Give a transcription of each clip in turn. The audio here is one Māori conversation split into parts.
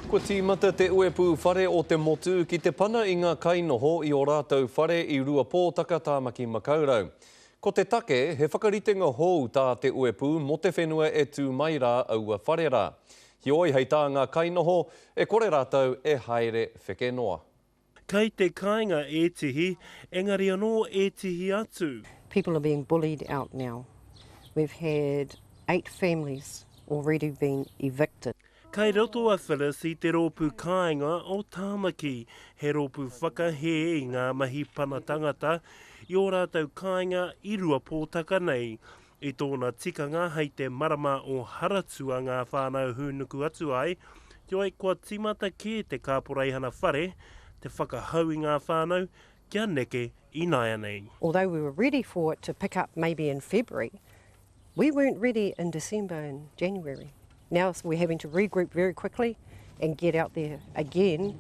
Kua tīmata te uepū whare o te motu ki te pana i ngā kainoho i ō rātou whare i Ruapōtaka, Tāmaki Makaurau. Ko te take, he whakaritenga hou tā te uepū mō te whenua e tū mai rā aua whare rā. Heoi hei tā ngā kainoho, e kore rātou e haere wheke noa. Kei te kainga ētihi, engari anō ētihi atu. People are being bullied out now. We've had eight families already been evicted. Kei roto a Phyllis i te rōpū kāinga o Tāmaki, he rōpū whakahē i ngā mahi pana tangata i ō rātou kāinga i Ruapōtaka nei. I tōna tikanga hei te marama o Haratua ngā whānau hūnuku atu ai, heoi kua tīmata kē te kāporeihana whare te whakahau i ngā whānau kia neke ināianei. Although we were ready for it to pick up maybe in February, we weren't ready in December and January. Now we're having to regroup very quickly and get out there again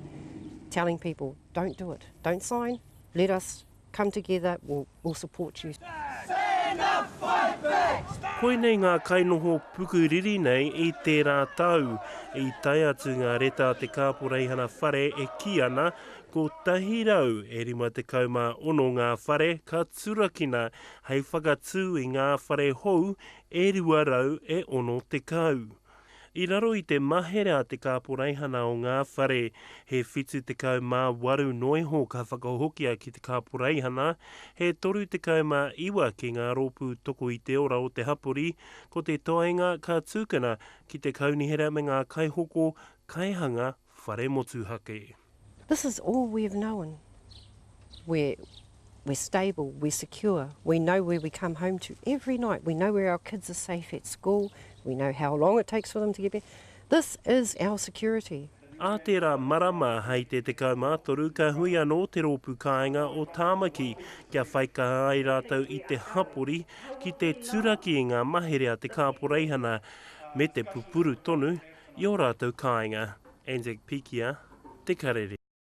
telling people don't do it, don't sign, let us Come together, we'll support you. Koinei ngā kainoho puku riri nei i tērā tau. I tae atu ngā reta a te kāporeihana whare e kī ana, 156 ngā whare ka turakina hei whakatū i ngā whare hou e 260. I raro i te mahere a te kāporeihana o ngā whare, he 78 noa iho ka whakahokia ki te kāporeihana, he 39 ki ngā rōpū toko i te ora o te hapori, ko te toenga ka tukuna ki te kaunihera me ngā kaihoko, kaihanga Whare Motuhake. This is all we have known, we're we're stable, we're secure, we know where we come home to every night, we know where our kids are safe at school, we know how long it takes for them to get back, this is our security. Ā tērā marama hei te 13 ka hui anō te rōpū kāinga o Tāmaki kia whaikaha ai rātou i te hapori ki te turaki i ngā mahere a te kāporeihana me te pupuru tonu I ō rātou kāinga, Anzac Pikia, te karere.